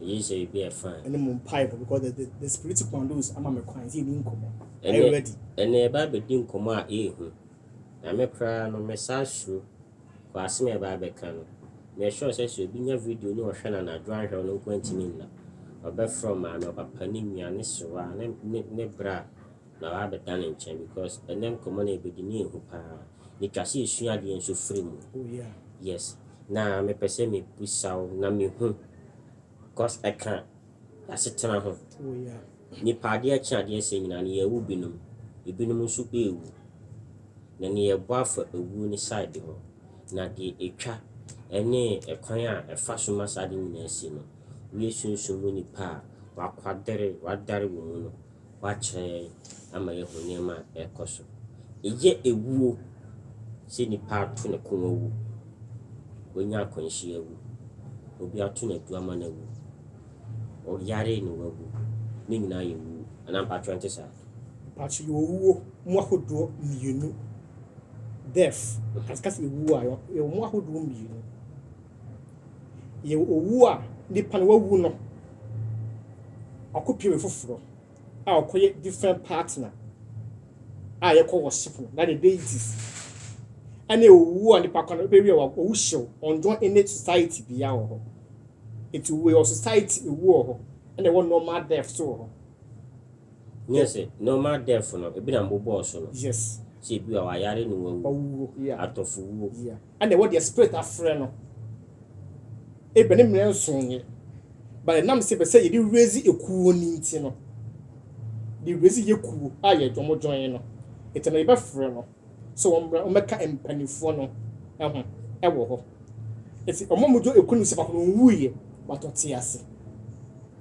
Eyi sɛ ebi yɛ fine. Ɛne mo mpaebɔ because the the the spirit commandos ama me kwan sɛ yɛni nkɔmɔ. Are you ready? Ɛnna yɛba abɛdi nkɔmɔ a ɛyɛ hu. Na me koraa no me saa suro kɔ asɛm a yɛba abɛka no. Me sure sɛ sɛ obi nya video ne ɔhwɛ no anadwo anhwɛ ɔno nko antumi nna. Ɔbɛfrɛ maame, ɔpapa, ne nua, ne sewa, ne ne ne bra na wabɛda ne nkyɛn because ɛnɛ nkɔmɔ no a yɛbɛdi no yɛ hu paa. Etwa sɛ yesua adeɛ nso firi mu. Yes na mepɛ sɛ me bisa wo na me hu cause ɛka y'asetena ho. Nipa adeɛ kye adeɛ sɛɛ nyinaa no yɛrewo binom, ebinom nso ɛrewu. Na neɛ yɛbɔ afa ewuo no side ho. Na deɛ etwa ɛne ɛkwan a ɛfa so ma saa adeɛ nyinaa si no. Woyɛ sunsum mu nipa a, wakwadare, wadare wo mu no, wɔakyerɛ yɛn ama yɛahu nneɛma a ɛrekɔ so. Ɛyɛ awuo sɛ nipa ato ne kɔn awu, wanya akwanhyia awu, obi ato no adu ama no awu, ɔyare na wawu, ne nyinaa yɛ wuo, anaa mpakyerɛ ɛnte saa? Mpakyerɛ yɛwɔ wuo mu ahodoɔ mmienu, death, yɛka sɛ awuo a, yɛwɔ mu ahodoɔ mmienu. yɛ owu a nipa no wawu no, ɔkɔpɛ obi foforɔ a ɔkɔyɛ different partner a yɛkɔ worship no na the deities ɛne owu a nipa kɔ no bɛwie wɔ owu hyew ɔndɔ ɛne society bia wɔ hɔ ɛti owu wɔ society ewu wɔ hɔ ɛna ɛwɔ normal death so wɔ hɔ nyɛ sɛ normal death no ebi na mbobɔɔ so no yes sɛ ebi a wayare ne wawu atɔfo wuo yeah. Ɛna ɛwɔ deɛ spirit afrɛ no ebia ne mmerɛ nson yɛ but ɛnam sɛ pɛ sɛ yɛde raise ekuo no nti no de raise yɛ kuo a yɛ dwom join no nti no yɛbɛfrɛ no sɛ wɔn mmerɛ wɔn bɛka mpanimfoɔ no ɛho ɛwɔ hɔ nti wɔn a wɔdwo ekuo no sɛ baako no ɔnwuiɛ but ɔte ase.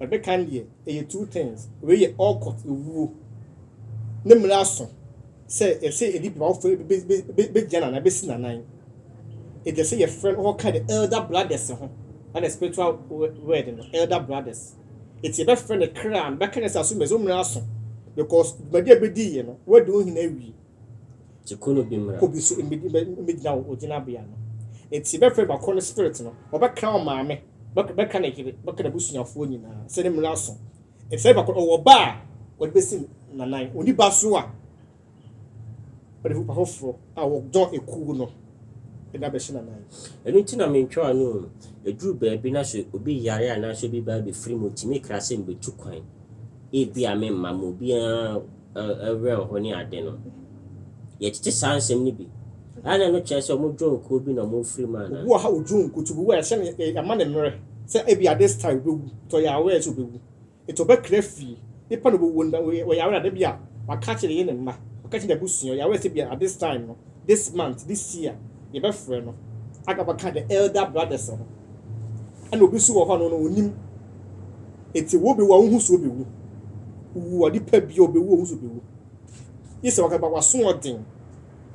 Ade kan deɛ ɛyɛ two things wei yɛ all court ewuo ne mmara so sɛ ɛsɛ ɛdi bima wofo bɛgyina nanan bɛsi nanan ɛdi ɛsɛ yɛ friend hɔ ka the elder brothers ho na the spiritual word no elder brothers ɛti ɛbɛ friend kra no bɛka ne sɛ aso mɛsɛ ɔmmara aso because dwumadi a bɛdi yɛ no wadi wo hene awie Nti ku no bi mmra. Kɔ bi so mmɛgyina wo gyinabea no. Nti bɛfrɛ bako no spirit no, ɔbɛka wo maame, bɛka ne yere, bɛka n'abusuafoɔ nyinaa, sɛ ne mmerɛ aso. Nti sɛ bako no ɔwɔ ba a, ɔde bɛsi nanan, ɔnni ba so a, ɔde nipa foforɔ a wɔdɔn ekuo no na abɛhyɛ nanan. Ɛno nti na mentwa w'ano o. Ɛduru baabi na sɛ obi yare anaasɛ obi ba abɛfiri mu, tumi kra sɛ mebɛtu kwan. Ebia memma ma obiara. awerɛhow ne ade no. Yɛtete saa nsɛm no bi. Ɛyɛ a na ɛno kyerɛ sɛ wɔdwoon kuw bi na wɔafiri mu anaa? Obi wɔ ha a wodwoon nkutoo a ɛhyɛ no a yɛama no mmerɛ sɛ ebia this time obewu, nti ɔyɛ aware sɛ obewu. Nti ɔbɛkra afi nipa na obewu no, ɔyɛ aware a da bi a waka akyerɛ ne yere ne mma, waka akyerɛ n'abusua, ɔyɛ aware sɛ ebia at this time no, this month, this year, yɛbɛfrɛ no. Agaba ka the elder brothers ho. ɛna obi nso wɔ hɔ no no onim eti wo be wa wo ho so be wu wu ɔde pa bi obe wu wo so be wu yisɛ wakɛ ba waso ɔden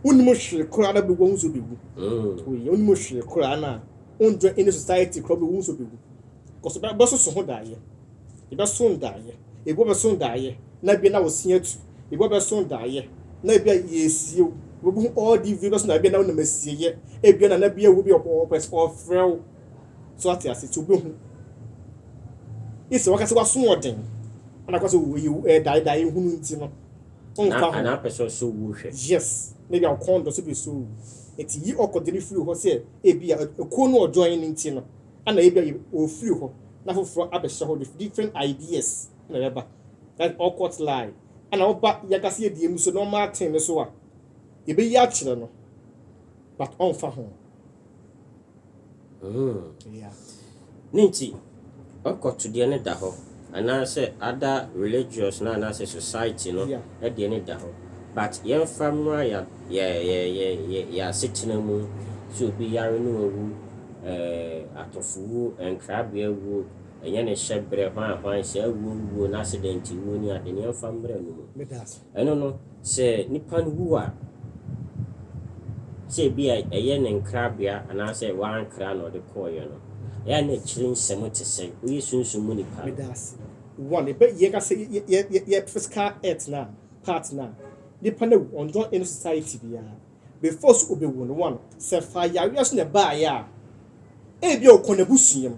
wonim hwee koraa na be wu wo so be wu mm. oye wonim hwee koraa na wondwɛ in society koraa be wu so be wu kɔsɔ bɛ bɛ soso ho daayɛ Ebɛso ndaayɛ, ebi wɔbɛso ndaayɛ na bi na ɔse atu, ebi wɔbɛso ndaayɛ na bi a yɛresie wo, wobɛhu all the view bɛso na bi a na wonam asieyɛ, ebi a na na bi a wo bi ɔpɛ sɛ ɔfrɛ wo, so ate ase nti wobɛhu. Ese waka sɛ wasoɔden ɛna kɔ sɛ oyi ɛdaedae hunu nti no ɔnka ho. Anaa pɛ sɛ ɔso wuo hwɛ. Yes, na bi a ɔkɔn dɔ so bɛso wo nti yi ɔkɔdene firi hɔ sɛ ebi a ɛkuo no ɔjoin nti no. ana ebia yɛ ɔrefiri hɔ na foforɔ abɛhyɛ hɔ with different ideas na ɛbɛba that ɔkɔt lie ana ɔba yɛkasa yɛdie mu so normal thing no so a yɛbɛyi akyerɛ no but ɔmfa ho mm. yeah. ne nti ɔkɔtodeɛ no da hɔ Anaasɛ other religious no anaasɛ society no deɛ no da hɔ but yɛmfa mmra yɛ yɛ asetena mu sɛ obi yare na wawu eh atɔfowuo nkrabea wuo ɛnyɛ ne hyɛbrɛ hwan hwan saa wuo wuo no accident wuo ne ade no yɛmfa mmra no mu. Ɛno no, sɛ nipa no wu a, sɛ ebia ɛyɛ ne nkrabea anaasɛ wɔankra na ɔde kɔeɛ no, ɛyɛ a na akyire nsɛm te sɛn? Woyɛ sunsum mu nipa no. Medase. One, yɛbɛ, yɛka sɛ yɛ, yɛ, yɛ, yɛ physical earth no a, part no a, nipa no awu, ɔnjoin any society biara. Before sɛ obewu no, one, sɛ fa yareɛ so na ɛbaeɛ a, ebia ɔkɔ n'abusua mu.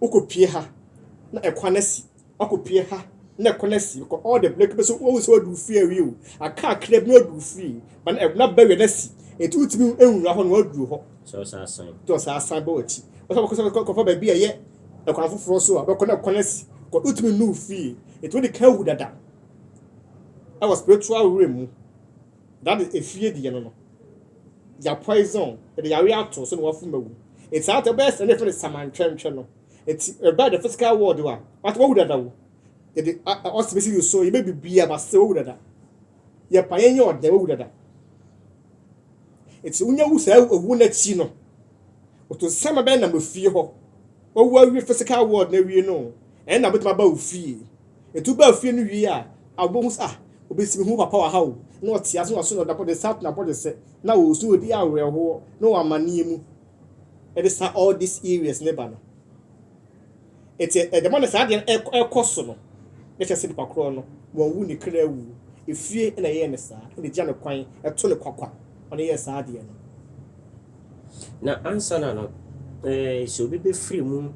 wokɔpue ha na ɛkwan asi, woakɔpue ha na ɛkwan asi, wokɔ all the black bɛso wohu sɛ wadu fie awie o, aka akra bi na wadu fie, ba na ɛbna bɛwɛ no asi, ɛti wotumi nwura hɔ na wadu hɔ. Sɛ ɔsan asan. Sɛ ɔsan asan bɛ wɔakyi. Ɔsɛ wɔkɔ sɛ kɔfa baabi a ɛyɛ ɛkwan foforɔ so a bɛkɔ na ɛkwan asi, kɔ wotumi nnu fie, ɛti wode ka awu dada ɛwɔ spiritual realm mu. na de efie deɛ no no ya poison de yare ato so na wafu ma wu eti saa tɛ bɛyɛ sɛ ne fɛ ne samantwɛntwɛ no eti ɛbɛyɛ de physical world wa wata wawu dada wo yɛde ɔsi bɛsi ne so yɛbɛ bibia ba sɛ wawu dada yɛ pa yɛn yɛ ɔdɛ wawu dada eti wonya wu saa ewu n'akyi no otu nsɛmma bɛyɛ nam efie hɔ. Wo wu awie physical world no awie no ɛnna wobɛtumi aba wo fie. Nti wobaa fie no wie a, a wobɛhu sɛ ah obi si me hu papa wɔ ha o, na ɔte ase na ɔso na ne nsa ato n'abɔdwesɛ, na ɔresu, ɔredi awerɛhoɔ, na ɔwɔ amanneɛ mu. Ɛde saa all these areas no ba no. Nti ɛde ma no saa adeɛ no ɛkɔ so no, na kyerɛ sɛ nipa korɔ no wɔnwu ne kra awu. Efie na ɛyɛ no saa, na ɛgya no kwan, ɛto no kwakwa ma no yɛ saa adeɛ no. Na ansana no, ɛɛ, sɛ obi bɛfiri mu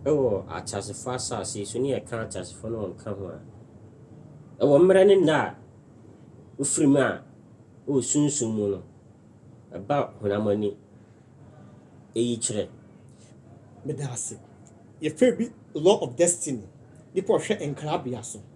wɔ ateasefoɔ asase yi so, ne yɛka ateasefoɔ no wɔnka ho a, ɛwɔ mmerɛ ne nna a wofiri mu a wɔ sunsum mu no, ɛba honam ani. Ɛyi kyerɛ. Meda ase. Yɛfrɛ bi law of destiny. Nipa ɔhwɛ nkrabea so.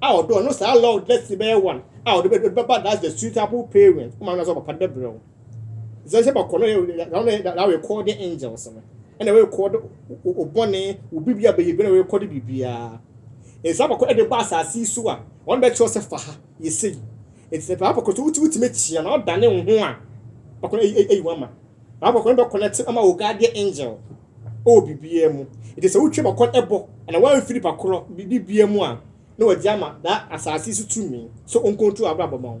a ɔdɔ no saa lord let's see bɛyɛ one a ɔde bɛ bɛba that's the suitable parent ɔmo anasɛ ɔpapa de bɛbrɛ wo sɛ sɛ bɛkɔ no yɛ na ɔno na rekɔ de angels no ɛna rekɔ de ɔbɔne wo biribi a bɛyɛ bi na rekɔ de biribiara nsa abakɔ de ba asase yi so a ɔno bɛkyerɛ sɛ fa ha yɛ sɛ yi nti sɛ papa bɛkɔ so wotumi tumi kyia na ɔdane wo ho a bɛkɔ no ɛyi wɔn ama papa bɛkɔ no bɛkɔ no te ama wo guardian angel wɔ biribiara mu. Enti sɛ wotwa mu akɔ ɛbɔ anaa wɔamfi nipa korɔ biribiara mu a, na wɔagye ama daa asase so tumi sɛ ɔnkontrol w'abrabɔ ma wo.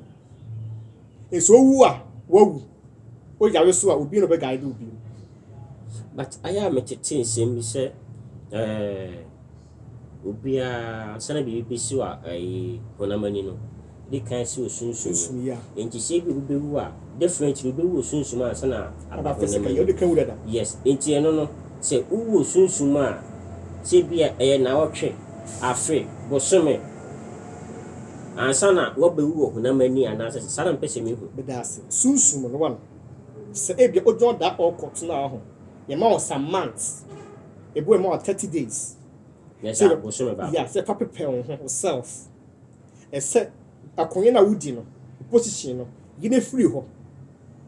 Enti sɛ wowu a, woawu. Woyare so a, obi na ɔbɛguide wo bio. But ayɛ a metete nsɛm bi sɛ ɛɛ. Obiara, ansa na biribi besiw a ɛyɛ honam ani no, di kan si wɔ sunsum mu. Enti sɛ ebia obi bewu a, definitely obewu wɔ sunsum mu ansa na aba honam ani. Yes, enti ɛno no, sɛ wowu wɔ sunsum mu a, sɛ ebia ɛyɛ nnawɔtwe, afe, bosome, ansa na woabewu wɔ honam ani anaasɛ saa na mepɛ sɛ mihu. Meda ase. Sunsum no, wɔn, sɛ ebia odwan da a ɔrekɔ tena hɔ, yɛma wɔn some months. Ebue ma wo thirty days. Nyɛ saa, bosome baako. Yeah, sɛ fa prepare wo ho, wo self. Ɛsɛ akonya no a wodi no, wo position no, yi no firi hɔ.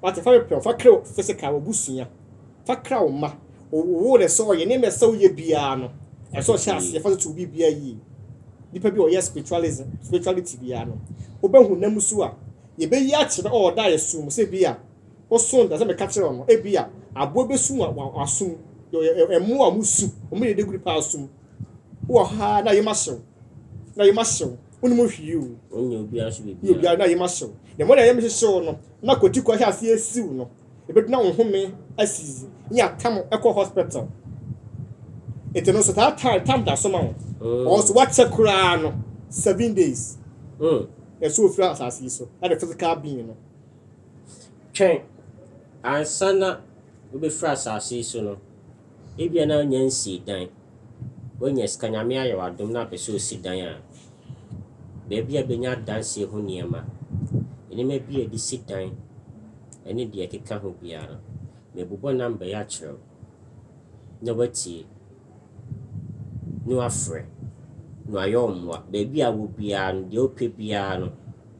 Wate, fa prepare wo ho, fa kra wo physical, w'abusua, fa kra wo mma, wo wo na ɛsɛ ɔyɛ, nneɛma ɛsɛ woyɛ biara no, ɛsɛ ɔhyɛ aseɛ, fa toto wo biribiara yie. Nipa bi a ɔyɛ spiritualism, spirituality biara no, wobɛhu nam so a, yɛbɛyi akyerɛ, ɔɔ, da a yɛsoo mu, sɛ bi a, Ɔsõ da sɛ meka kyerɛ ɔno, ebia aboa bi bɛsum wo wɔ asom mu. Yɛwɔ mmoa a wɔsu, wɔn yɛ daguru paa asom mu. Wowɔ ha a na yem ahye wo, na yem ahye wo, wonnim hwee o. Wonyɛ obiara so biribiara. Nyɛ obiara na yem ahye wo. Deɛ mmɔde a yem hyehye wo no, na kwatiko ahyɛ aseɛ asi wo no, ɛbɛdu na wo home asi, ne atam kɔ hospital. Nti no nso taa time, time da so ma wo. Mm. Ɔnso wakyɛ koraa no, seven days. Mm. Ɛso ofiri asase yi so, ɛde physical being no. Twɛn, ansa na wobɛfiri asase yi so no, ebia na wonya nsii dan. Woanya sika, Nyame ayɛ wo adom na wopɛ sɛ wosi dan a, baabi a wobɛnya adansie ho nneɛma, nneɛma bi a yɛde si dan ne deɛ ɛkeka ho biara no, mɛbobɔ number yi akyerɛ wo na woatie na woafrɛ na wɔayɛ wo mmoa. Baabi a wowɔ biara no, deɛ wopɛ biara no.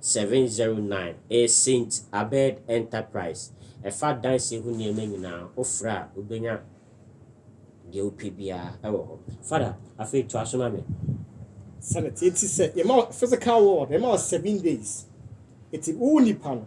709 A Saint Abed Enterprise, Ɛfa adansi ho nneɛma nyinaa, wofrɛ a wobɛnya deɛ wopɛ biara wɔ hɔ. Father, afei toa so ma me. Sɛnɛte, Eti sɛ yɛma wo physical world, yɛma wo seven days, eti wo nipa no.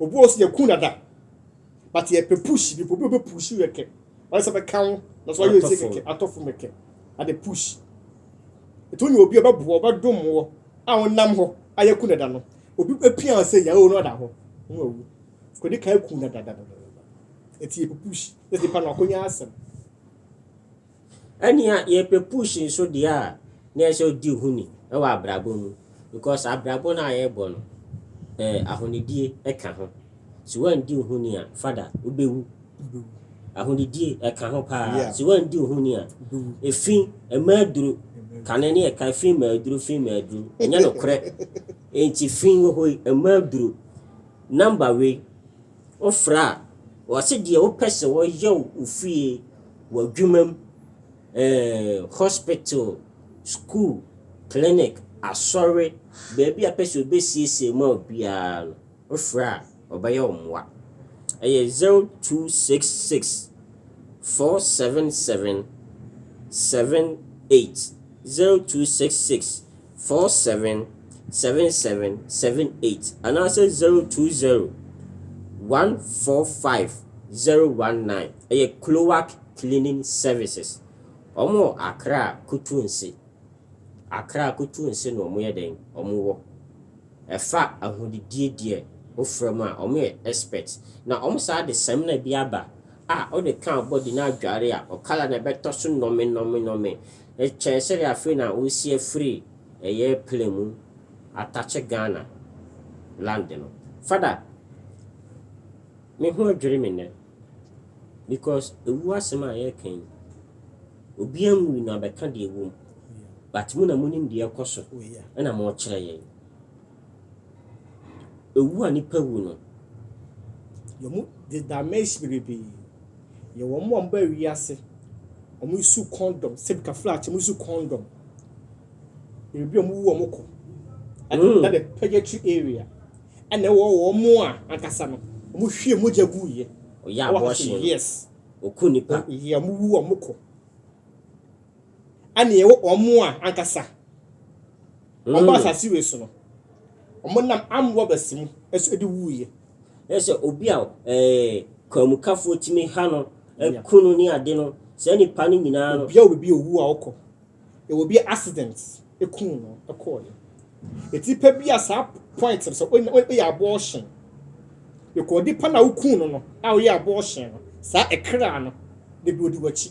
Obi wɔ hɔ sɛ yɛkuu dada but yɛpɛ push bi obi obi push yɛ kɛ wɔyɛ sɛ bɛka wo na so wɔyɛ ɔsi kɛkɛ atɔ fam kɛkɛ ade push etu nyɛ obi ɔbɛboa ɔbɛdom wɔ a wɔnam hɔ a yɛku dada no obi apia wɔn sɛ yɛawo no ɔda hɔ wɔn awu kɔdi kan ku dada dada eti yɛpɛ push na nipa no akɔnya asɛm. Ɛnea yɛpɛ push nso deɛ a, na ɛsɛ ɔdi ho ni wɔ abrabɔ mu because abrabɔ no a yɛbɔ no, eh, ahonidie ɛka ho. Se wandi wo ho ni a, fada, wobɛwu. Ahonidie ɛka ho paa. Yeah. Se wandi wo ho ni a, Wobɛwu. efi, ɛma aduro, kane ne ɛka efi ma aduro, fi ma aduro. Ɛnyɛ nokorɛ. Enti fi wɔ hɔ yi, ɛma aduro. Number wei, Wo frɛ a, wɔ se deɛ wo pɛ sɛ wɔ yɛ wo fie, wɔ adwuma mu, eh, hospital, school, clinic, asɔre, baabi a pɛ sɛ ɔbɛ siesie ma wo biara no, wo frɛ a, ɔbɛ yɛ wo mmoa. Ɛyɛ 0266 477 78 0266. four seven seven seven seven eight anaasɛ zero two zero one four five zero one nine ɛyɛ cloac cleaning services wɔn wɔ akra kutuunsi akra kutuunsi na wɔn yɛ dɛn wɔn wɔ ɛfa ahudidie deɛ wofrɛ mu a wɔn yɛ expert na wɔn saa de samina bi aba a wɔde kan body na adware a ɔkala na ɛbɛtɔ so nɔme nɔme nɔme Ɛkyɛn sɛdeɛ afei na wɔresi afiri ɛyɛ plane mu atakye Ghana land no. Fada, me ho adwiri me nnɛ because ɛwuo asɛm a yɛreka yi, obiara nwui na bɛka deɛ ɛwɔ mu but mo na monim deɛ ɛrekɔ so ɛna morekyerɛ yɛn. Owu a nnipa wu no, wɔde damage bebree yɛ wɔn a wɔba wiase. Wɔso kɔndɔm sɛbika flash wɔso kɔndɔm. Ebi a wɔwu wɔn kɔ ɛna ɛna the pɛgɛtri area ɛna ɛwɔ wɔn a ankasa no wɔhwie mogya gu yɛ. Wɔyɛ abɔɔhye no. Yes. Wɔku nnipa. Yɛ wɔwu wɔn kɔ. ɛna ɛwɔ wɔn mu a ankasa wɔn bɔ asase wei so no wɔn nam amoa bɛsi mu ɛso ɛde wuiɛ. ɛsɛ obi a ɛɛ kwamukafoɔ tumi ha no ɛku no ne ade no saa nipa no nyinaa no. obi a obi owu a ɔkɔ ɛwɔ bi accident ɛku no ɛkɔɔ yɛ ɛti pɛ bi a saa point sɛ ɔyɛ abortion ɛkɔ ɔdi pa na ɔku no no a ɔyɛ abortion no saa ɛkra no de bi ɔdi wakyi.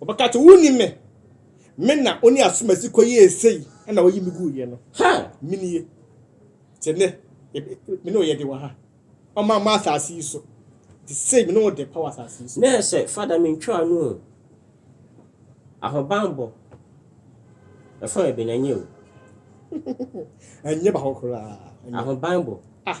Wɔbɛka sɛ, 'Wunnim me, me na wo ne asomasi kɔyɛɛ sei na woyi me guiɛ no. Ha! Me nie. Te nnɛ, me ne wo yɛde wɔ ha. Ɔma ma asase yi so. Te sei, me ne wo de pa wɔ asase yi so. Nɛ sɛ Fada mentwaa no o, ahobanbɔ ɛfɔn ɛbɛn ɛnyɛ o. Ɛnyɛ baako koraa. Ahobanbɔ. Ah!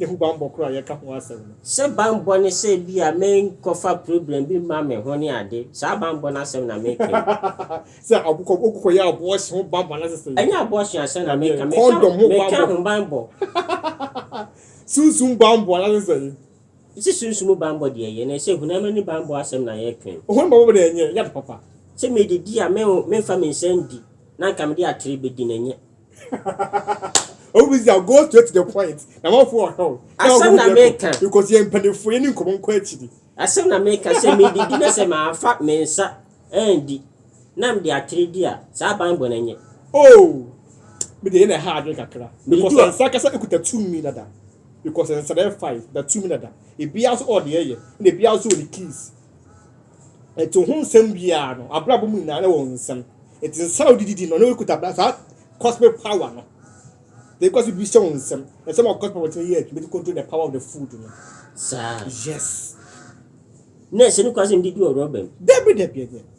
ne ho bammɔ koro a yɛka ho asɛm no. Sɛ bammɔ ne sɛ ebia menkɔfa problem bi mma me ho ne ade, saa bammɔ no asɛm na meka yi. Sɛ wokɔ, wokɔyɛ abortion ho bammɔ no asɛsɛ yi. Ɛnyɛ abortion asɛm na meka, meka, Condom ho meka bammɔ. ho bammɔ. Sunsum bammɔ no asɛsɛ yi. Sɛ sunsum bammɔ deɛ ɛyɛ, na ɛsɛ hunam ani bammɔ asɛm na yɛka yi. Ohun bammɔ deɛ ɛnyɛ, ɛnyɛ ade papa. Sɛ medidi a, me, memfa me nsa ndi, na anka mede atere bɛdi no, ɛnyɛ. Obisa go straight to the point. Na mafo ɔhɛw. Asɛm na meka. Because yɛn mpanimfoɔ yɛ ne nkɔmɔ nkɔ akyiri. Asɛm na meka sɛ medidi na sɛ mafa me nsa andi na mede atere di a, saa banbɔ no nyɛ. Oh! Me deɛ yɛ na ɛha adwene kakra. Because nsa kasa kuta tumi dada. Because nsa na ɛfa yi da tumi dada. Ebiara nso ɔɔ deɛ ɛyɛ. Ɛna ebiara nso wɔ ne keys. Enti ohun nsɛm biara no, abrabɔ mu nyinaa na ɛwɔ nsɛm. Enti nsa a wode didi no, na ɔkuta bra saa cosmic power no. They cause bi hyɛ wɔn nsɛm. Ɛsɛ ma cosmic power tumi yɛ adwuma to control the power of the food no. Saa. Yes. Na ɛsɛ no kwan sɛ mede di wɔ rɔba mu. Dabi dabi dabi.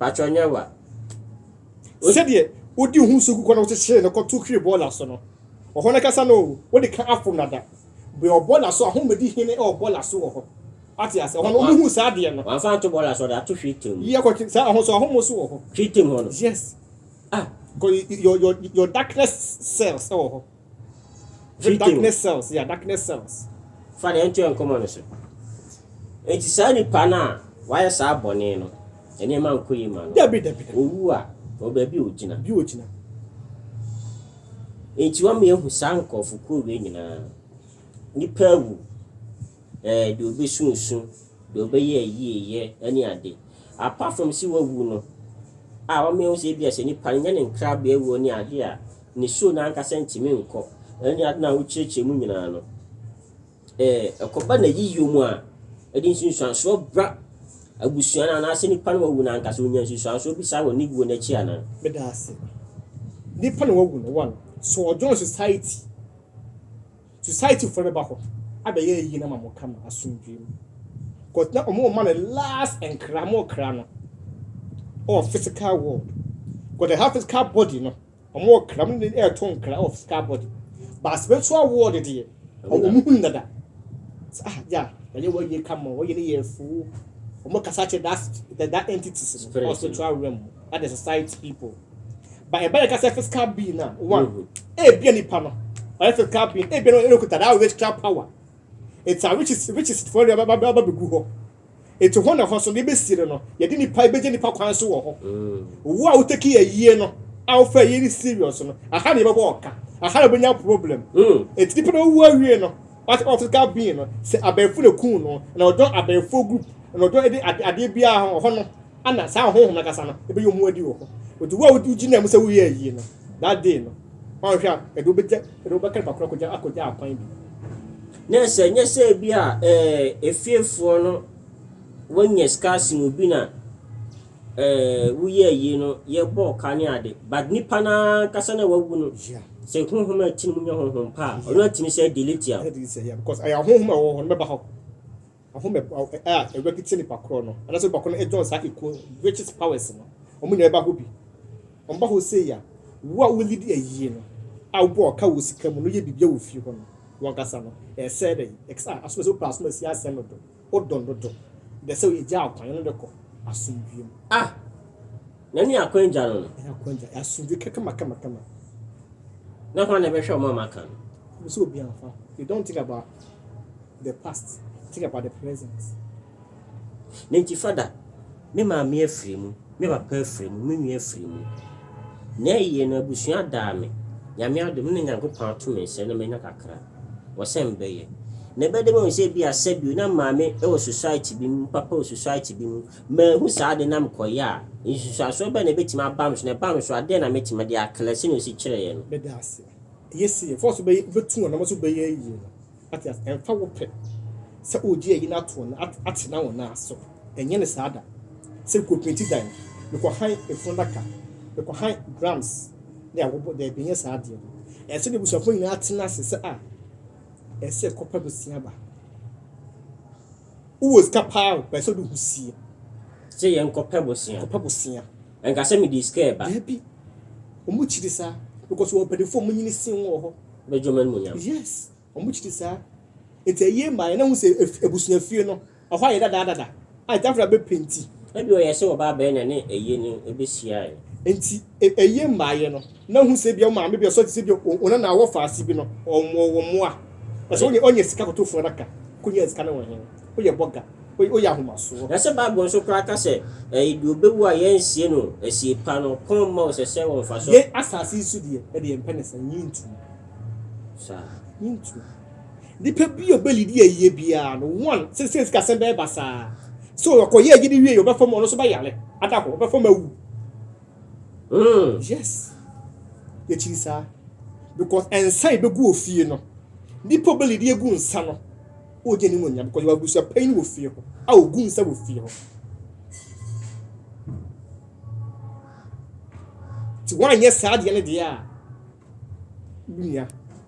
Patrɔ nyɛ wa. Sɛdeɛ wodi ho nsuo gu kɔ na wokyekyere no kɔto hwiri bɔɔla so no, wɔ hɔ no ankasa no oo, wode ka afom no ada. Bue wɔ bɔɔla so a, hom bɛdi hene wɔ bɔɔla so wɔ hɔ. Wate aseɛ? Hɔ no, hom hunu saa adeɛ no. Wamfa anto bɔɔla so, ɔde ato hwiri tirim mu. Yɛ kɔ ti, saa, hɔ so a, hom nso wɔ hɔ. Hwiri tirim hɔ no? Yes. Ah! Kɔ, your, your, your darkness cells wɔ hɔ. Video. Darkness cells, yeah, darkness cells. Fa deɛ ɛntoa nkɔmmɔ no so. Enti saa nipa no a wayɛ saa bɔne no, nneɛma nkɔ yi ma no. Dabi, dabi, dabi. Owu a, wɔ baabi a ogyina. Bi ogyina. Enti wɔn ehu saa nkurɔfokuo wei nyinaa. Nipa awu, ɛɛ eh, deɛ obesunsun, deɛ ɔbɛyɛ ayieyɛ ɛne ade. Apart from si wawu no, a wɔn ehu sɛ ebi a sɛ nipa no nyɛ ne nkrabea awuo ne ade a, Nisuo no ankasa ntumi nkɔ. Ɛne ade no a wokyerɛkyerɛ mu nyinaa no, ɛkɔba n'ayiyɔ mu a, ɛde nsunsuansoɔ bra abusua no anaasɛ nipa no a wawu no ankasa, ɔnya nsunsuansoɔ bi saa wɔ ne wuo no akyi anaa? Meda ase. Nipa no wawu no, one, so ɔjoin society, society foɔ no bɛba hɔ abɛyɛ ayie no ama mo kama, asomdwoeɛ mu. Cause na wɔn rema no last nkra, wɔrekra no wɔ physical world. Cause the have physical body no, Wɔn wɔ kra mu ne ɛto nkra of scar body but spiritual world deɛ wɔn hu dada sɛ ah gya wɔyɛ wɔn yie ka ma wɔyɛ ne yɛ fuu wɔn kasa kyerɛ that that, that entities no Spirit, wɔ spiritual realm mu that the society people but ɛba yɛ kasa physical being na one ebia nipa no ɔyɛ physical being ebia no ɛna okuta that witchcraft power it's a witches witches fo ɛna ɛba ɛba ɛba begu hɔ. Eti hɔ na hɔ so na ebesiri no, yɛde nipa ebegye nipa kwan so wɔ hɔ. Wo a wo take yɛ yie no, a wo fɛ yie ne serious no, aha na yɛbɛbɔ ɔka, aha na obenya problem. Eti nipa na owu awie no, what about physical being no, sɛ abɛɛfo na kun no, na ɔdɔ abɛɛfo group, na ɔdɔ ɛde ade adeɛ biara ho ɔhɔ no, ana saa honhom na kasa no ebɛyɛ omu adi wɔ hɔ. Eti wo a wogyina mu sɛ wo yɛ yie no, that day no, wɔn hwɛ a, ɛde obegya, ɛde obɛka nipa koro akogya akogya akwan bi. Na sɛ ɛnyɛ sɛ ebia efiefoɔ no wɔnya sika asen obi na woyɛɛ yei no, yɛbɔɔ ka ne ade, but nipa no ara ankasa no a wawu no, sɛ honhom a ɛte ne mu nyɛ honhom pa a, ɔno atumi sɛ delete a. Because ɛyɛ honhom a ɛwɔ hɔ no bɛba hɔ. Ahome a Awurade de kyɛ nipa korɔ no, anaasɛ nipa korɔ no join saa ekuo witches powers no, wɔn nyinaa ba hɔ bi. Wɔn ba hɔ sei a, wo a wo leadi ayie no, a wo bɔ wɔn ka wɔ sika mu no, yɛ biribiara wɔ fie hɔ no, wɔn kasa no, ɛsɛɛ dɛ yi, ɛkasa a, asom ɛsɛ wopɛ asom asie asɛm no do, wo dɔ no do, dɛ sɛ yɛ gyaa kwan, yɛ ne no kɔ asomdwie mu. Ah! Na ne akwan gya no no. Ɛyɛ akwan gya, ɛyɛ asomdwoe kɛkɛmakɛmakɛma. Na hwan na ɛbɛhwɛ wɔn a wɔaka no? Hunu sɛ obiara mfa ho. You don't think about the past, think about the present. Na enti Fada, me maame afiri mu, me papa afiri mu, me nua afiri mu. Nea eye no, abusua adaa me. Nyame adom, me ne Nyankopɔn ato me nsa na manya kakra. Wɔ sɛ mebɛyɛ. Na ɛbɛyɛ dɛ mahu sɛ ebia sɛbio na maame wɔ society bi mu, papa wɔ society bi mu, Manhu saa ade no na mekɔyɛ a, nsunsuansoɔ bɛn na ɛbɛtumi aba me so, na ɛbaa me so a, dɛn na mɛtumi de akla, sɛdeɛ ɔsi kyerɛeɛ no. Bɛda aseɛ. Eye se yɛmfa wo so bɛyɛ, wobɛtu wɔn anamɔ sɛ wobɛyɛ ayie no. Wate aseɛ? Ɛmfa wo pɛ sɛ woregye ayi no ato wɔn, atena wɔn nan so. Ɛnyɛ no saa da. Sɛ mekɔpenti dan, mekɔhan efunu adaka, mekɔhan drums ne awobo, daabi, ɛnyɛ saa adeɛ no. Ɛsɛ sɛ n'abusuafoɔ nyinaa tena ase sɛ a, ɛsɛ sɛ yɛkɔpa bosea ba. Wo wɔ sika paa o, pɛ sɛ ɔde wo ho sie. Sɛ yɛn kɔ pɛ bosea. Kɔ pɛ bosea. Ɛnka sɛ me de sika ɛba. Daabi, ɔmo kyiri saa. Because wɔn mpanyinfoɔ ɔmo nyini sen wɔn wɔ hɔ. Bɛgye ɔmo animuonyam. Yes, ɔmo kyiri saa. Nti ayie ma yɛn na hu sɛ abusua fie no, ɛhɔ ayɛ dada dada. A nti afra bɛ penti. Ɛbi ɔyɛ sɛ ɔbaa bɛɛ na ne ayie no ɛbɛ siaɛ. Nti. E, ɛyɛ mmaeɛ no na hu sɛ bia wo maame bi ɔsɔ te sɛ bia wo nana a ɔwɔ faase bi no ɔmmɔ wo mmoa ɛsɛ ɔnyɛ ɔnyɛ sika koto fun adaka kɔnya sika no wɔ he woyɛ bɔga woyɛ ahomasoɔ. Na sɛ bible nso koraa ka sɛ ɛɛ deɛ ɔbɛwu a yɛn nsie no asie pa no kɔn mma wo sɛ sɛ wɔ mfasoɔ. Yɛn asaase yi so deɛ ɛde yɛn pɛ ne saa yɛn ntu mu saa yɛn ntu nipa bi a ɔbɛ lidi yɛ yie biara no one sɛ sɛ sika sɛn bɛyɛ basaa so ɔkɔ yɛ agye de wie yɛ ɔbɛ fam ɔno nso bɛ yare ada hɔ ɔbɛ fam awu. Mm. Yes. Yɛkyiri saa. Because nsa yɛbɛgu wɔ fie no, nipa bɛli de egu nsa no, ɔgye ne mu nya because yɛwɔ abusua panyin wɔ fie hɔ a ɔgu nsa wɔ fie hɔ. Ti wɔanyɛ saa deɛ no deɛ a, Wo nua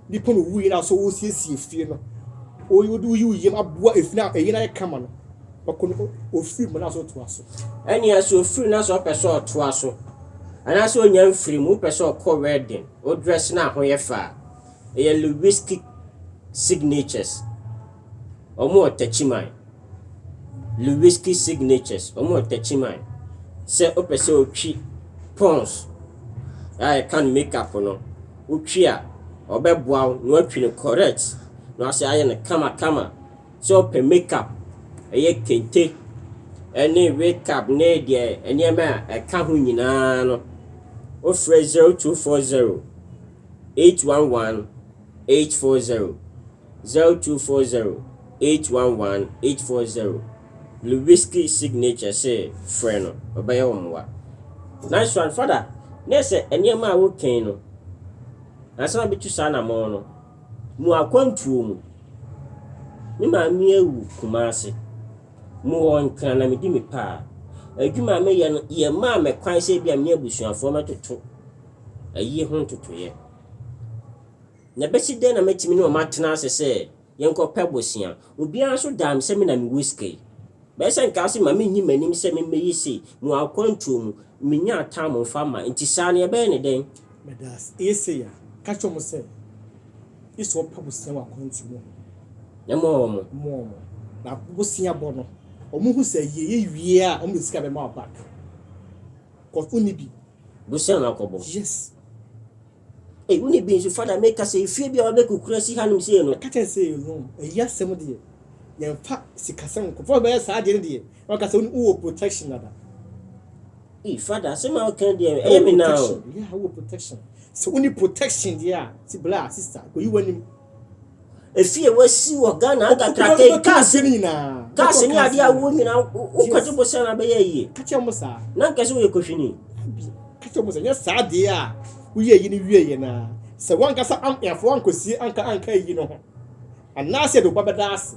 bi kɔn owui na so wosiesie fie no. Wo wo wo wo yam aboa efi na eyi na yɛ kama no. Ɔkɔ no ofiri mu na so to aso. Ɛne ɛso ofiri na so ɔpɛ sɛ ɔto aso. Ana sɛ onya mfiri mu pɛ sɛ ɔkɔ wedding, o dress na ho yɛ faa. Ɛyɛ Lewinsky signatures. Ɔmo wɔ takyiman. Lewiskey Signatures, wɔwɔ Techiman. Sɛ wopɛ sɛ wotwi pons a ɛka no make up no, wotwi a, wɔbɛboa wo na woatwi no correct na wɔasɛ ayɛ no kamakama. Sɛ wopɛ make up, ɛyɛ kente ne wig cap ne deɛ nneɛma a ɛka ho nyinaa no, wofrɛ 0240 811 840. Zero two four zero eight one one eight four zero Lewiski signature se frɛ no, ɔbɛyɛ wo mmoa. Nice one Father, na sɛ nneɛma a wokan no ansa na bɛtu saa anamɔn no, mu akwantuo mu, me maame awu Kumasi, mu wɔ Nkran na medi me pa a, adwuma a meyɛ no yɛ maa me kwan sɛ ebia me ne abusuafoɔ mɛtoto ayi ho ntotoeɛ. Na bɛsi dɛn na mɛtumi ne wɔn atena ase sɛ yɛnkɔ pɛ bosea? Obiara nso daa me sɛ me na mewɔ sika yi. Bɛyɛ sɛ nka ase ma menyi m'anim sɛ memmɛyɛ sei, mewɔ akwantuo mu, mennya atam mfa mma, nti saa no yɛbɛyɛ no dɛn? Meda ase. Ɛyɛ sei a, ka kyerɛ wɔn sɛ, Gye sɛ wɔpɛ bosea wɔ akwantuo mu. Na moa wɔn. Moa wɔn. Na bosea bɔ no, wɔhu sɛ ɛyɛ yɛ wie a, wɔde sika bɛma wo back, cos wonni bi. Bosea na wakɔbɔ. Yes. Ei, wo ne bi nso fa na meka sɛ efie bi a wɔabɛ kukura si hanom sei no. Meka kyɛɛ sɛ no, ayi asɛm deɛ, yɛmfa sikasɛm nkɔ, fa ɔbɛyɛ saa deɛ no deɛ, na waka sɛ wo ne wo wɔ protection dada. Ei, Father, asɛm a woka yi deɛ, ɛyɛ me naa o. Protection, yeah, wo wɔ protection. Sɛ wo ni protection deɛ a, si bra, sister, kɔyi w'anim. Efie a wɔasi wɔ Ghana ada kraka yi, cars cars ne adeɛ a woɔ nyinaa wokɔgye bosia na abɛyɛ yie na nkɛ sɛ woyɛ kohwini nyɛ saa adeɛ a woyɛ yi no wieɛ no a sɛ woankasa amfo ankɔsie anka anka ayi no ho anaasɛ de woba bɛda ase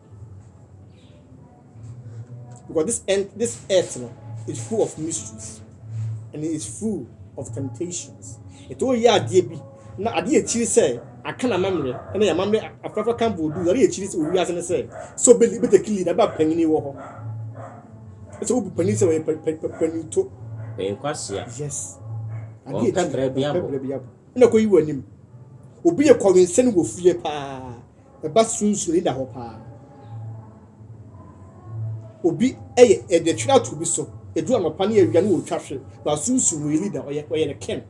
Because this end, this earth no is full of mysteries and it is full of temptations. Ètò yɛ adeɛ bi na adeɛ akyiri sɛ aka na amammerɛ ɛna yɛ amammerɛ afrafa kan bɔ odu adeɛ akyiri sɛ owi ase ne sɛ sɛ obi bi take lead aba panyin wɔ hɔ sɛ obi panyin sɛ ɔyɛ panyin to. Ɛyɛ kwasia. Yes. Adeɛ akyiri ɔpɛ brɛ bi abo ɛna kɔ yi wɔ anim obi yɛ kɔwensɛn wɔ fie paa. Ɛba sunsuni da hɔ paa. Obi yɛ ɛde twere ato obi so. Edu anɔpa ne awia ne wɔtwa hwe. Ba sunsun wɔyɛ leader ɔyɛ ɔyɛ ne king.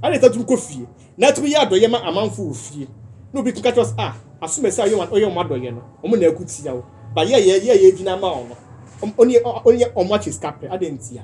Ɛna ɛsɛ tumi kɔ fie. Na atumi yɛ adɔyɛ ma amanfo wɔ fie. Na obi tumi ka kyerɛ sɛ ah asome sɛ ɔyɛ ɔyɛ wɔn adɔyɛ no. Wɔn na ɛko tia wo. Ba yɛ yɛ yɛ yɛ gyina ama wɔn no. Ɔne ɔne wɔn akyɛ sika pɛ. Adɛn ntia?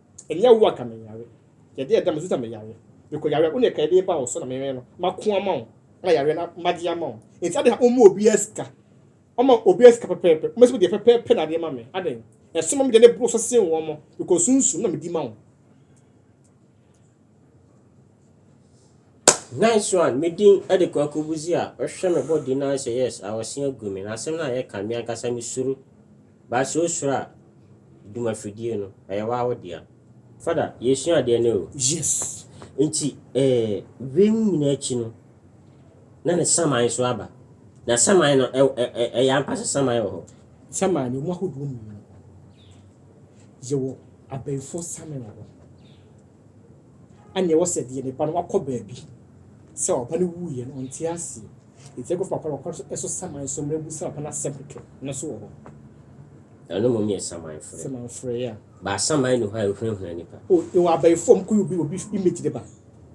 Ɛnyɛ wo a ka menyare. Yɛ deɛ ɛda mu sesa meyare. Mekɔ yareɛ wo na ɛka ɛdee ba wo so na menwɛn no mako ama wo na yareɛ no magye ama wo. Nti adɛn na womma obiara sika? Ɔma obiara sika pɛpɛɛpɛ. Womɛsi wo deɛ pɛpɛɛpɛ na adeɛ ma me. Adɛn? Ɛsono me deɛ na ɛboro so sen wɔn. Mekɔ sunsum na medi ma wo. Nice one, me din de Kwaku Busia. Wohwɛ me body na sɛ yes a ɔse agu me. Na asɛm no a yɛka me ankasa me suro. Ba sɛ osuro a duma fidie no ɛyɛ waa wo dea. Fada, yɛsua adeɛ nɛ o. Yes. Nti eh, wei mu nyinaa akyi no, na ne saman nso aba. Na saman no, ɛ, ɛ, ɛ, ɛyɛ ampa sɛ saman wɔ hɔ? Saman no, ɛmu ahodoɔ mmienu. Yɛwɔ abayifoɔ saman wɔ hɔ. Anneɛ ɛwɔ sɛ deɛ ne ba no wakɔ baabi sɛ ɔba no wuiɛ no ɔnte aseɛ. Enti ɛkɔfa papa no wɔ kwan so so saman so mmerɛ bu sɛ papa no asɛm kɛkɛ no so wɔ hɔ. Na no mmom yɛ saman frɛ. Saman frɛ, yeah. Ba asaman ni hɔ a ɛhunahuna nipa. O, ɛwɔ abayifo a wɔkɔyɛ obi obi image de ba.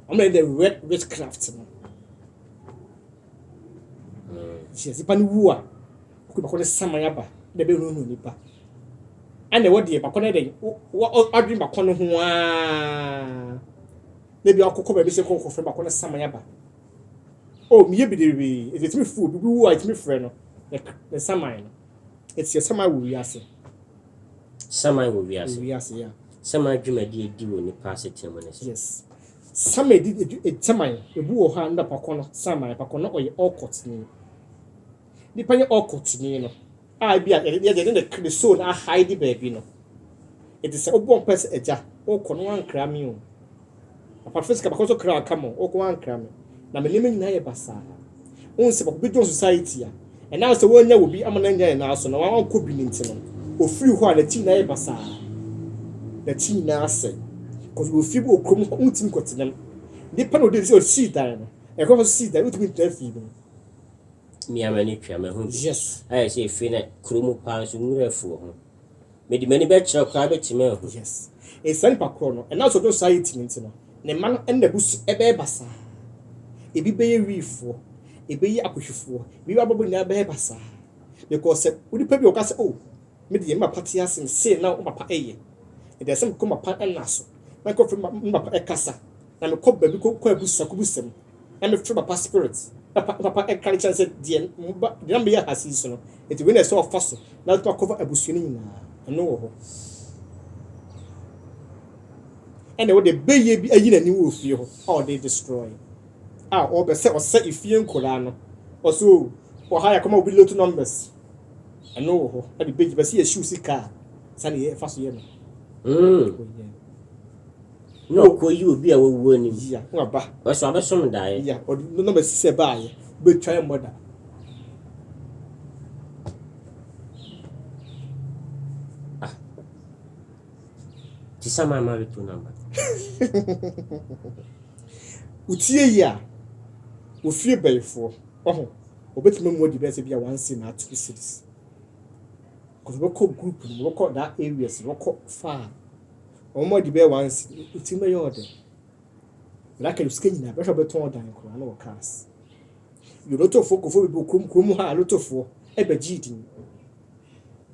Wɔn yɛ the red witchcraft no. Mm. Nti yɛsi ba no wu a. Ɔkɔ bɛkɔ ne saman aba na ɛbɛhunahuna nnipa. Ɛna ɛwɔ deɛ bakɔ no dɛn wadwene bakɔ no ho aa na bi akɔkɔ baabi sɛ kɔkɔ fɛ bakɔ no saman aba o oh, meyɛ bebree ɛti ɛtumi fu obi bi wu a ɛtumi frɛ no ne saman no ɛti sɛ saman wɔ wiase saman wɔ wiase wiase ya saman adwumadi edi wɔ nipa asetena mu ne sɛ yes saman edi saman ebu wɔ hɔ a nnapakɔ no saman pakɔ no ɔyɛ ɔkɔtene Nipa yɛ ɔkɔtuni no a ebi a yɛde yɛde ne ne soul no ahae de baabi no. Eti sɛ wobɔ mpae sɛ agya, wokɔ no wankra me o. Papa fɛ sika bakɔ so kra aka mo, wokɔ wankra me. Na me nneɛma nyinaa yɛ basaa. Wohu sɛ papa bi dɔn society a, ɛnam sɛ wannya wɔ bi ama no annya ne nan so na wankɔ bi no nti no, ofiri hɔ a ne ti nyinaa yɛ basaa. Ne ti nyinaa asɛe. Kɔs wɔ fie bi wɔ kurom hɔ, wontumi nkɔtena mu. Nipa na odi sɛ osii dan no, ɛkɔ so sii dan, wontumi ntra fie bi mu. Me ara m'ani twa mahu bi. Ayɛ sɛ efi na kuro mu paa nso nwura afu wɔ ho. Mede m'ani bɛkyerɛ koraa bɛtumi ahu. Saa nipa korɔ no, ɛnam sɛ ɔdɔ society no nti no, ne mma no ne n'abusua ɛbɛyɛ basaa. Ebi bɛyɛ wiifoɔ, ɛbɛyi akohwifoɔ, ebi bɛ abɔbɔ nyinaa bɛyɛ basaa. Because sɛ onipa bi ɔka sɛ oh me deɛ me papa te ase no sei na wo papa ɛyɛ. Ɛdeɛ sɛ mekɔ me papa nna so na mekɔ frɛ me papa ɛkasa na mekɔ baabi kɔ kɔ abusa kɔ busa mu. Ɛno firi papa spirit na pa papa ɛka kyerɛ no sɛ deɛ mo ba deɛ na moyɛ ahase yi so no nti wei na ɛsɛ ɔfa so na atumi akɔva abusua no nyinaa ɛno wɔ hɔ ɛna wode bɛyɛ bi ayi n'ani wɔ fie hɔ a ɔde destroy a ɔbɛ sɛ ɔsɛ efie nkoraa no ɔso ɔha yɛ kɔma obi lotto numbers ɛno wɔ hɔ ɛde bɛyi bɛsɛ yɛ shoes kaa sani yɛ ɛfa so yɛ no mm. Na ɔkɔyi obi a wawu anim. Yea, na waba. Nanso abɛsom daeɛ. Yea, ɔde no na bɛsi sɛ baayɛ, wobɛtwa yɛ mmɔ da. Ah. Ti sɛ maa married to number. Wotie yi a, wofie bɛyifoɔ, ɔho, wɔbɛtumi amu adi bɛyɛ sɛ bi a one city na two cities. Because wɔbɛkɔ group no, wɔbɛkɔ that areas, wɔbɛkɔ far. Wɔn adi bɛyɛ one cedi. Otumi bɛyɛ wo dɛn? Blake no sika nyinaa, bɛhwɛ a ɔbɛtɔn dan koraa na wɔ cars. Yɛ lotofoɔ kɔfoɔ bebree kurom kurom ha lotofoɔ ɛbɛgyee din.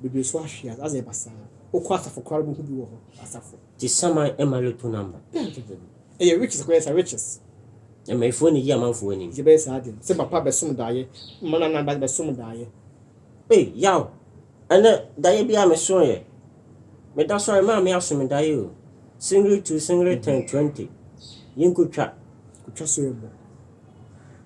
Bebree nso ahwe ase, asɛ basaa. Wokɔ asafo koraa no wobɛhu bi wɔ hɔ, asafo. Nti saman ɛma loto number? Dabi dabi dabi. Ɛyɛ riches koraa, ɛyɛ sɛ riches. Amanfoɔ na ɛyi amanfoɔ anim. Nti ɛbɛyɛ saa deɛ no, sɛ papa bɛsom daeɛ, mma nana bɛsom daeɛ. Ei yaw! Ɛnɛ daeɛ bi a me soeɛ. Me da sɔre maa me aso me daeɛ o. Singiri two singiri ten twenty yi nko twa. Ko twa so yɛ bɔ.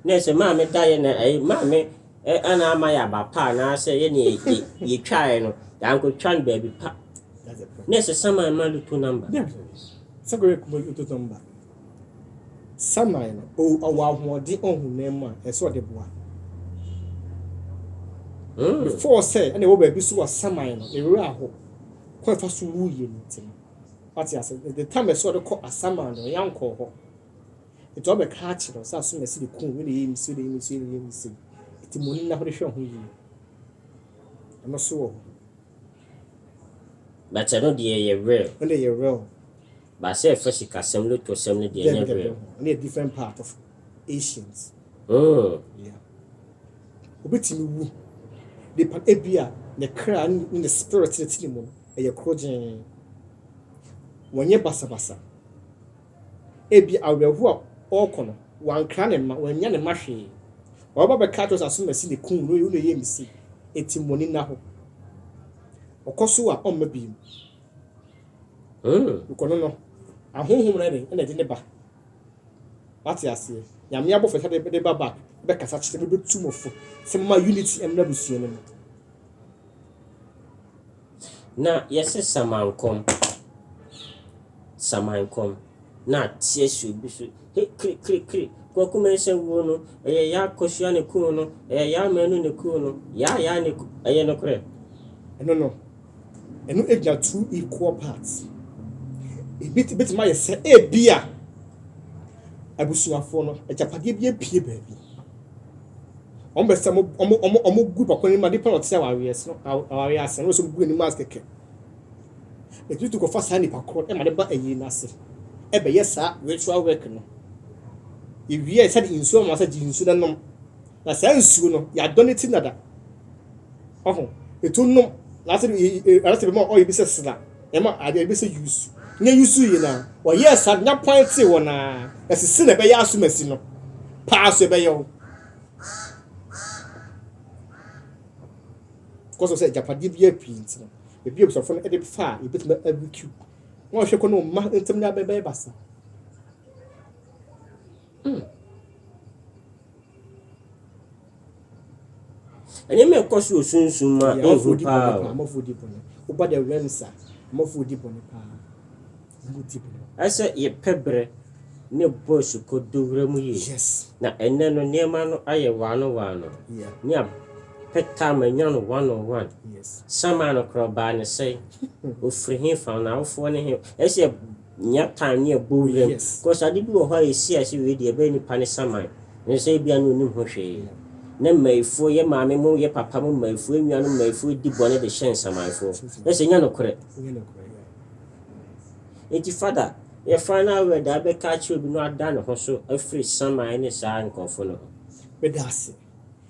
Ne sɛ maa me daeɛ na ɛyi maa me ɛ ɛna ama yɛ aba pa anaasɛ yɛ ne yɛ yɛ yɛ twaeɛ no yɛ anko twa no baabi pa. Ne sɛ sama ɛma loto number. Yeah. Sɛ kɔ yɛ kɔ loto number. Samuel no, o, ɔwɔ ahoɔden ɔhonam mu a ɛsɛ sɛ ɔde boa. Mm. Before sɛ ɛna ɛwɔ baabi so wɔ Samuel no, ne werɛ aho. Kɔ ɛfa so wu yie no nti no. Wate ase? The time ɛsɛ ɔde kɔ Asaman no, ɔyɛ ankɔɔ hɔ. Nti ɔbɛka akyerɛ sɛ asom ɛsi de kun, ɛna ɛyɛ mi si, ɛna ɛyɛ mi si, ɛna ɛyɛ mi si. Nti mo ni na hode hwɛ ho yie. Ɛno so wɔ hɔ. But ɛno deɛ yɛ real. Ɛno deɛ yɛ real. Ba sɛ fa sikasɛm no to sɛm no deɛ nyɛ hwee. Daabi daabi ɔno yɛ different part of ancient. Hmm. Yeah. Obetumi wu. Nipa ebi a ne kra ne ne spirit ne ti ne mu no ɛyɛ koro gyee. Wɔnyɛ basabasa. Ebi awerɛho a ɔrekɔ no wankra ne mma wannya ne mma hwee. Ɔbɛba bɛka akyerɛ sɛ asomasi ne kun no na ɛyɛ misi. Eti mmɔni nna hɔ. Ɔkɔ so a ɔmma bio. Mm. Nkɔ no no, ahonhom no ɛne ɛna ɛde ne ba. Wate aseɛ? Nyame abɔfo ɛka de de ba ba bɛ kasa kyerɛ bɛ bɛ tu mo fo sɛ mo ma unity ɛmra busua no mu. Na yɛse samankɔm samankɔm na ateɛ si obi so he kri kri kri Kwaku Mensah wuo no ɛyɛ yaa Kosua ne kuu no ɛyɛ yaa Manu ne kuu no yaa yaa ne kuu ɛyɛ nokorɛ? Ɛno no. ɛno agya two equal parts. Ebi betumi ayɛ sɛ ebi a abusuafo no agyapadeɛ bi apue baabi. Wɔn bɛ sɛ wɔn wɔn wɔn gu papa anim ade pa na ɔte awareɛ so awareɛ ase na wɔsɛ wɔn gu anim ase kɛkɛ. Etu tu kɔfa saa nipa korɔ ɛma ne ba ayi n'ase ɛbɛyɛ saa ritual work no. Ewie sɛ de nsuo ma sɛ gye nsuo na nom. Na saa nsuo no yɛadɔ ne ti nada. Ɔho, etu nom, na sɛ bi ara sɛ bi ma ɔyɛ bi sɛ sena, ɛma adeɛ bi sɛ yusu. Nyɛ yusu yi na ɔyɛ sa nya pɔn te wɔ na ɛsisi na ɛbɛyɛ asomasi no. Paa so ɛbɛyɛ wo. Kɔsɔ sɛ japadeɛ bi yɛ pii nti no, ebi obusafo no ɛde fa a ebetumi abikiw. Wɔn hwɛ kɔ no mma ntɛm nya bɛbɛyɛ basa. Hmm. Ɛnyɛ mɛ kɔ so osunsun ma ehu paa o. Amafo di bɔne. Oba the realms a, amafo di bɔne paa. Omo di bɔne. Ɛsɛ yɛpɛ berɛ ne boys kɔ dowura mu yie. Yes. Na ɛnɛ no nneɛma no ayɛ waano waano. Yeah. Ne a pɛ taa ma nya no one on one. Yes. Samaa no koraa ɔbaa ne sɛn? Ofiri he fa? N'awofoɔ ne he? Ɛsɛ yɛ. Nya tan ne abowura mu. Cos ade bi wɔ hɔ a yɛsi ase wei deɛ ɛbɛyɛ nipa ne saman ne sɛ ebia na onim ho hwee. Na mmayifoɔ, yɛ maame mo, yɛ papa mo mmayifoɔ, yɛ nuanom mmayifoɔ di bɔne de hyɛ nsamanfoɔ. Ɛsɛ nya nokorɛ. Enti Father, yɛ final word a wobɛka akyerɛ obi na wada ne ho so afiri saman ne saa nkorɔfoɔ no ho. Meda ase.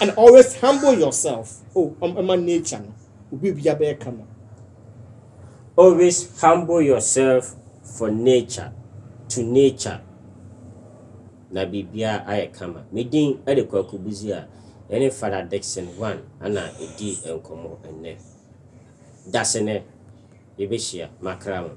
And always humble yourself oh um, ɛma nature no obi obia bɛyɛ kama. Always humble yourself for nature to nature na biribia ayɛ kama. Me din ɛde Kwaku Busia ɛne Father Dickson One ana ɛdi nkɔmɔ ɛnnɛ. Dasene yɛbɛhyia makra mo.